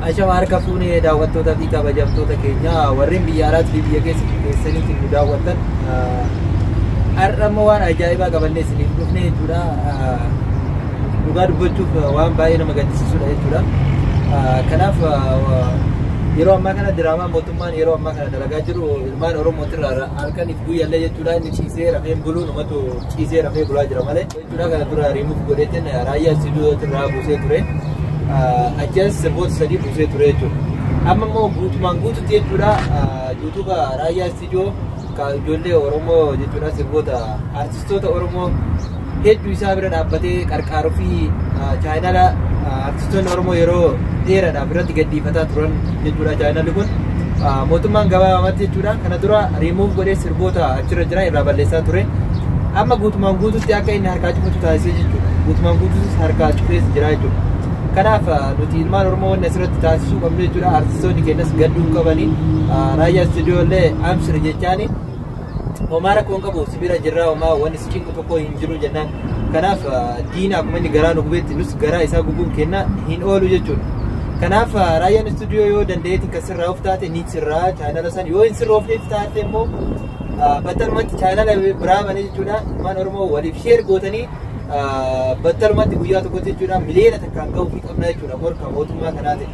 Ashama harka fuune daawwattoota fi kabajamtoota keenya warreen biyya alaatti fi biyya keessa keessaniitiin nu daawwattan har'a immoo waan ajaa'ibaa qabannee isiniif dhufne jechuudha. Dhugaa dubbachuuf waan baay'ee nama gaddisiisudha jechuudha. Kanaaf yeroo ammaa kana diraamaa mootummaan yeroo ammaa kana dalagaa jiru ilmaan Oromootirraa halkaniif guyyallee jechuudha inni ciisee rafee buluun uummatu ciisee rafee bulaa jira malee. Dura kana dura rimuuf godheetiin raayyaa sibiilota irraa buusee ture. Ajjees sirboota sadii buusee ture jechuudha. Amma immoo guutumaan guututti jechuudha yuutuuba raayyaa istiidiyoo ka ijoollee Oromoo jechuudha sirboota artistoota Oromoo hedduu isaa bira dhaabbatee qarqaaruu fi chaayinala Artistoonni Oromoo yeroo dheeraadhaaf irratti gadhiifataa turan jechuudha chaayinalli kun. Ah, Mootummaan gabaabamatti jechuudha kana dura remove godhee sirboota achirra jiran irraa balleessaa ture. Amma guutumaan guututti akka inni harkaa cufatu taasisee jechuudha. Guutumaan guutuutis harkaa cufees jira jechuudha. Kanaaf ah, nuti ilmaan Oromoo wanni asirratti taasisuu qabnu jechuudha. Artistoonni keenyas gadduu hin qabani. Ah, Raayyaa istuudiyoo illee amsir jechaani. homaa rakkoo hin qabu si bira jirraa homaa wanni si cinqu tokko hin jiru jennaan kanaaf diina akkuma inni garaa nu gubeetti nus garaa isaa gubuun kenna hin oolu jechuudha. Kanaaf raayyaan istuudiyoo yoo dandeetti kan sirraa of taate ni sirraa chaanala san yoo hin sirroofneef taate immoo battalumatti chaanala biraa banee jechuudha ilmaan oromoo waliif sheer gootanii battalumatti guyyaa tokkotti jechuudha miliyoona takkaan ga'uu fi qabna jechuudha morka mootummaa kanaatiin.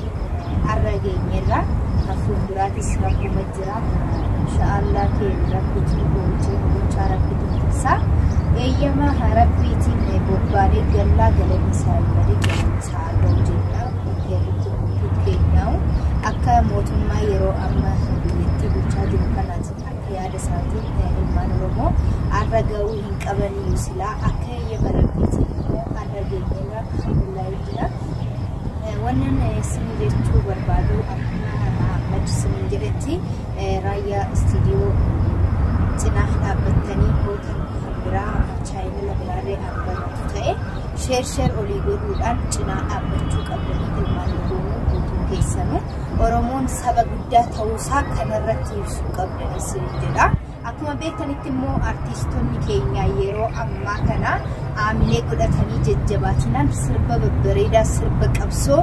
irratti har'a geenyeerra kan fuulduraatis rakkuma jira inshaallah keenya rabbiitiin boojii bulchaa rabbiitu tursa eeyyama rabbiitiin bobbaanee gallaa galanni isaa hin badne galanni isaa haa ga'u jenna keerritti guutuu keenyaa'u akka mootummaa yeroo amma biyyattii bulchaa jiru kanaatiin akka yaada isaatiin ilmaan oromoo har'a ga'uu hin qabaniyyuu silaa akka eeyyama rabbiitiin har'a geenyeerra jira. Wannan isin jechuu barbaadu akkuma Ahmad isin jedhetti raayyaa istiidiyoo cinaa dhaabbattanii hootan kan biraa chaayinala biraallee argamtu ta'e sheer sheer olii godhuudhaan cinaa dhaabbachuu qabdanii ilmaan Oromoo guutuu keessanuu Oromoon saba guddaa ta'uusaa kanarratti ibsuu qabdan isin jedha. Akkuma beektanitti immoo artiistonni keenya yeroo ammaa kana aamilee godhatanii jajjabaatinaan sirba babbareedaa sirba qabsoo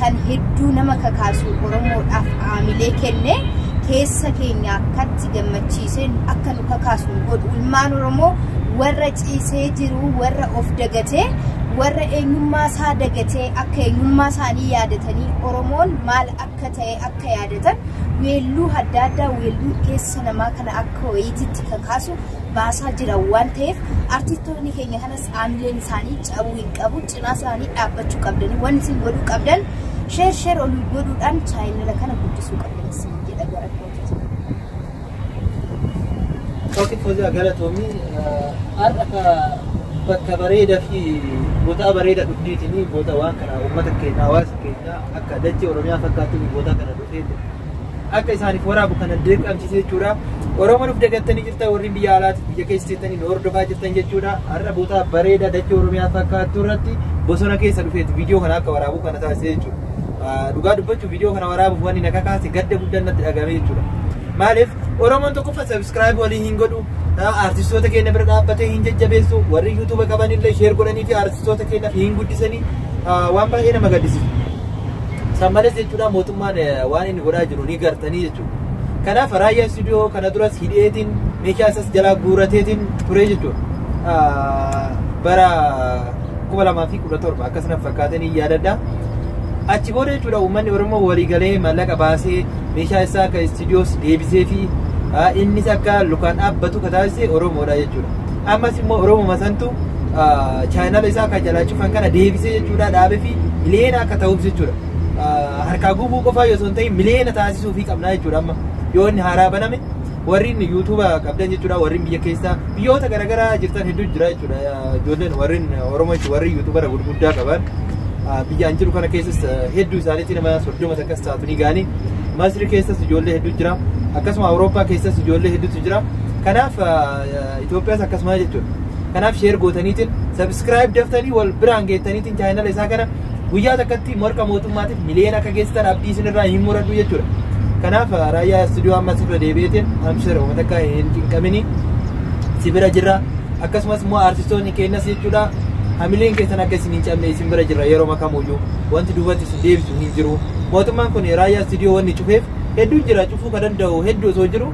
kan hedduu nama kakaasu Oromoodhaaf aamilee kenne keessa keenya akkatti gammachiisee akka nu kakaasu nu godhu ilmaan Oromoo warra ciisee jiru warra of dagatee warra eenyummaa isaa dagatee akka eenyummaa isaanii yaadatanii Oromoon maal akka akka ta'e akka yaadatan weelluu adda addaa weelluu keessa namaa kana akka wayiititti kakaasu baasaa jiran waan ta'eef artistoonni keenya kanas aamileen isaanii cabuu hin qabu cinaa isaanii dhaabbachuu qabdanii waan isin godhuu qabdan sheer sheer olii godhuudhaan chaayinala kana guddisuu qabdan isin jedha gara kootitti. Kooti Foziyaa Galatoomi har'a ka bakka bareeda fi bootaa bareeda dhufteetini boota waan kana uummata keenya hawaasa keenya akka dachee Oromiyaa fakkaattu boota kana dhufeeti akka isaaniif waraabu kana dirqamsiise jechuudha. Oromoo nuuf dagattanii jirtan warri biyya alaati biyya keessa jirtanii nu hordofaa jirtan jechuudha. Har'a boota bareeda dachee Oromiyaa fakkaattu irratti bosona keessa dhufeeti viidiyoo kana akka waraabu kana taasise jechuudha. Dhugaa dubbachuu Viidiyoo kana waraabuuf wanni na kakaase gadda guddaan natti dhagahame jechuudha. Maaliif Oromoon tokkoffaa sabiskiraayib walii hin godhu. Artistoota keenya bira dhaabbatee hin jajjabeessu. Warri yuutuuba qaban illee sheer godhanii fi artistoota keenya hin guddisanii waan baay'ee nama gaddisiisu. San malees jechuudha mootummaan waan inni godhaa jiru ni gartanii jechuudha. Kanaaf raayyaa istuudiyoo kana duras hidheetiin meeshaa isas jalaa guurateetiin ture jechuudha. Bara kuma lamaa fi kudha torba akkas na fakkaatee ni yaadadha. Achi booda jechuudha uummanni Oromoo walii galee maallaqa baasee meeshaa isaa akka istiidiyoos deebisee fi innis akka lukaan dhaabbatu ka taasise Oromoodha jechuudha. Ammas immoo Oromoo santu chaayinaala isaa akka jalaa cufan kana deebisee jechuudha dhaabee fi miliyoona akka ta'uuf jechuudha. Harkaa gubuu qofaa yoo osoo hin ta'in miliyoona taasisuufii qabna jechuudha amma yoo inni haaraa baname warrin yuutuuba qabdan jechuudha warrin biyya keessa biyyoota garaagaraa jirtan hedduu jira jechuudha ijoolleen warrin oromoo jechuudha warri yuutuubara gurguddaa qaban biyyaan jiru kana keessas hedduu isaaniitti nama soddoma takkas taatu ni gaani masri keessas ijoollee hedduu jira akkasuma awurooppaa keessas ijoollee hedduutu jira kanaaf Itoophiyaas akkasuma jechuudha kanaaf sheer gootaniitiin sabiskiraayib daftanii wal biraan geettaniitiin chaayinala isaa kana guyyaa takkatti morka mootummaatiif miliyoona akka geessitan abdii isinirraa hin muradhu jechuudha. Kanaaf raayyaa istuudiyoo ammas irra deebi'eetiin amshira uummata akka hin cinqamini si bira jirra. Akkasumas immoo aartistoonni keenyas jechuudha hamileen keessan akka isin hin cabne isin bira jirra yeroo makamuyyuu wanti duubatti isin deebisu hin jiru. Mootummaan kun raayyaa istuudiyoo wanni cufeef hedduun jira cufuu kan danda'u hedduu osoo jiru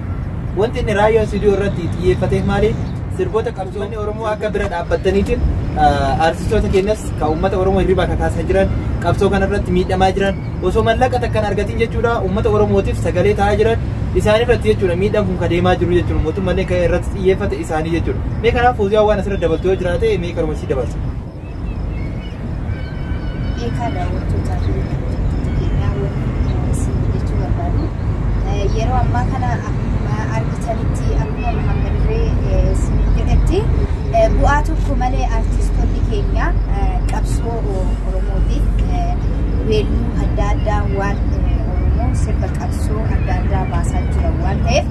wanti inni raayyaa istuudiyoo irratti xiyyeeffateef maali sirboota qabsiisa. Uummanni Oromoo akka bira dhaabbattaniitiin aartistoota keenyas kan uummata Oromoo hirribaa kakaasaa jiran qabsoo kanarratti miidhamaa jiran osoo mallaqa takka hin argatin jechuudha uummata Oromootiif sagalee ta'aa jiran isaanirratti jechuudha miidhaan kun kadeemaa jiru jechuudha mootummallee kan irratti xiyyeeffate isaanii jechuudha mee kanaaf fuuziyaan waan asirra dabaltu yoo jiraate mee kanuma sii dabalsa. Eekaa daawwattootaa fi hordoftoota keenyaa wanti isin jechuu barbaadu yeroo ammaa kana akkuma argitanitti akkuma Muhammad Irree isin jedhetti bu'aa tokko malee artistoonni keenya qabsoo Oromoo fi weelluu adda addaa waan Oromoo sirba qabsoo adda addaa baasaa jiran waan ta'eef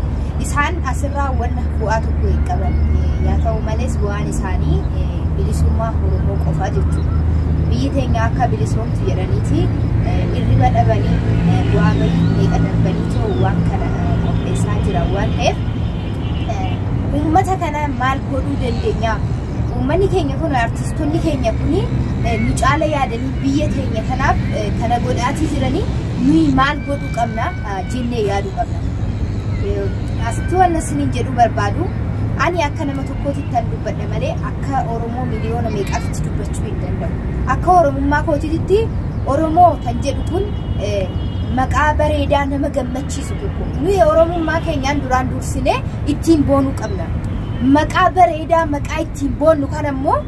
isaan asirraa wanna bu'aa tokko hin qaban yaa ta'u malees bu'aan isaanii bilisummaa Oromoo qofaa jechuudha. Biyyi teenya akka bilisoomtu jedhaniiti irriba dhabanii bu'aa bahii meeqa darbanii ta'u waan kana qopheessaa jira waan ta'eef uummata kana maal godhuu dandeenya? Uummanni keenya kun artistoonni keenya kun nu caala yaadanii biyya teenya kanaaf kana godhaatii jiranii nuyi maal godhuu qabna jennee yaaduu qabna. Asitti waan isiniin jedhuu barbaadu ani akka nama kootittan dubbadha malee akka Oromoo miliyoona meeqaatitti dubbachuu hin danda'u. Akka Oromummaa kootitti Oromoo kan jedhu kun eh, maqaa bareedaa nama gammachiisu tokko. Nuyi Oromummaa keenyaan duraan dursinee ittiin boonuu qabna. Maqaa bareedaa maqaa ittiin boonnu kan ammoo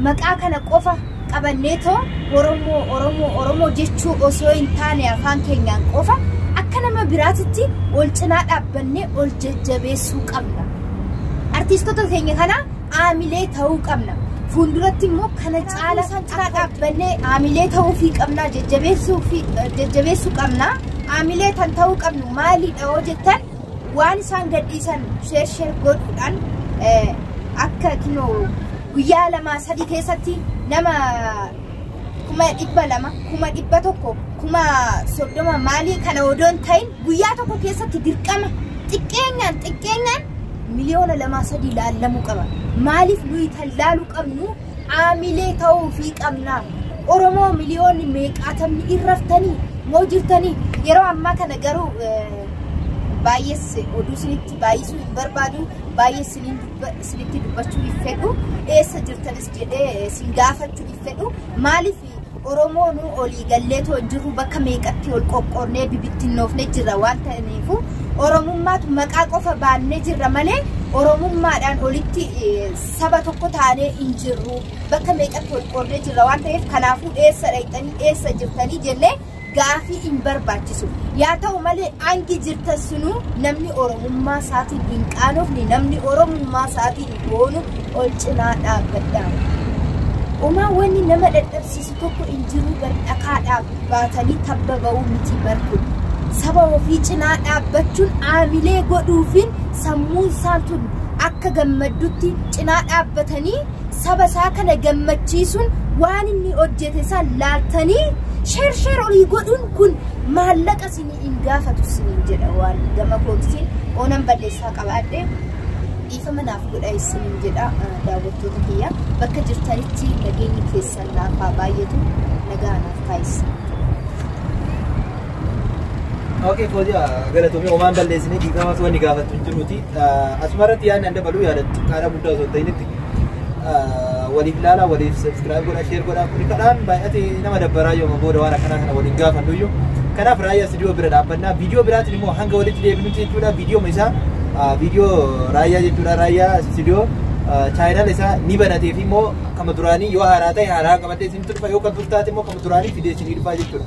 maqaa kana qofa qabanneetoo Oromoo, Oromoo, Oromoo jechuu osoo hin taane afaan keenyaan qofa akka nama biraatitti wal cinaa dhaabbannee ol jajjabeessuu qabna. Artiistota keenya kana aamilee ta'uu qabna. Fuulduratti immoo kana caala isaan cinaa dhaabbannee aamilee ta'uufii qabna, jajjabeessuu qabna. Aamilee kan ta'uu qabnu maalidha yoo jettan Waan isaan gadhiisan sheer sheer godhuudhaan akka kinoo guyyaa lama sadii keessatti nama kuma dhibba lama kuma dhibba tokko kuma soddoma maalii kana odoo hin ta'in guyyaa tokko keessatti dirqama xiqqeenyaan xiqqeenyaan miliyoona lamaa sadii laallamuu qaba. Maaliif nuyi tallaaluu qabnu Haamilee ta'uu fi qabnaa. Oromoo miliyoonni meeqaatamni hin raftanii moo jirtanii? Yeroo ammaa kana garuu baay'ees oduu isinitti baay'isuu hin barbaadu. Baay'ee isiniin dubba- isinitti dubbachuu hin fedhu. Eessa jirtanis jedhee isin gaafachuu hin fedhu. Maaliif Oromoonuu olii gallee too hin jirru bakka meeqatti ol qoqqoodnee bibittinnoofne jirra waan ta'aniifu Oromummaatu maqaa qofa baannee jirra malee Oromummaadhaan olitti saba tokko taanee hin jirru bakka meeqatti ol qoodnee jirra waan ta'eef kanaafuu eessa dhaqxanii eessa jirtanii jennee gaafii hin barbaachisu. Yaa ta'u malee hangi jirtan sunuu namni Oromummaa isaatiin hin qaanofne, namni Oromummaa isaatiin hin boonu ol cinaa dhaabbadhaa. Omaa wanni nama dadhabsiisu tokko hin jiru bar dhakaa dhaabu baatanii tabba ba'uu miti bar kun. Saba ofii cinaa dhaabbachuun aamilee godhuufin sammuun isaa tun akka gammaddutti cinaa dhaabbatanii saba isaa kana gammachiisuun waan inni hojjete san laaltanii sheer sheer olii godhuun kun maallaqa isinii hin gaafatu isiniin jedha waan gama koomsiin oonan balleessaa qabaadhe dhiifama naaf godha isiniin jedha daawwattoota kiyya bakka jirtanitti nageenyi keessan naaf haa baay'atu nagaa naaf taasisa. Okay, fooziya galatoomii homaan balleessinee dhiifamaas wanni gaafattu hin jiruuti. Asumarratti yaadni an dabaluu yaada xiqqaadhaa guddaa osoo hin ta'initti waliif ilaalaa, waliif subscribe godhaa, share godhaa kuni kadhaan baay'atee nama dabbaraa yooma booda waan akkanaa kana waliin gaafannu iyyuu. Kanaaf raayyaa studio bira dhaabbannaa. Viidiyoo biraatiin immoo hanga walitti deebinutti jechuudha. Viidiyooma isaa viidiyoo raayyaa jechuudha. Raayyaa studio chaayinaal isaa ni banatee fi immoo kama duraanii yoo haaraa ta'e haaraa qabatee isin turfa yoo kan turtaate immoo kama duraanii fidee isin dhufaa jechuudha.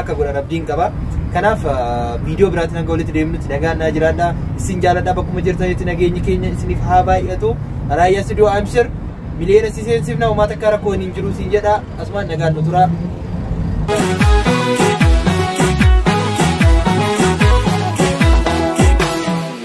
akka godhan abdiin qaba. Kanaaf viidiyoo biraatiin hanga walitti deemnutti nagaan naa jiraadha. Isin jaaladha bakkuma jirtanitti nageenyi keenya isiniif haa baay'atu. Raayyaa Studio Amshir miliyoona si seensifna uummata akka rakkoo hin jiru siin jedha. Asumaan nagaan nu tura.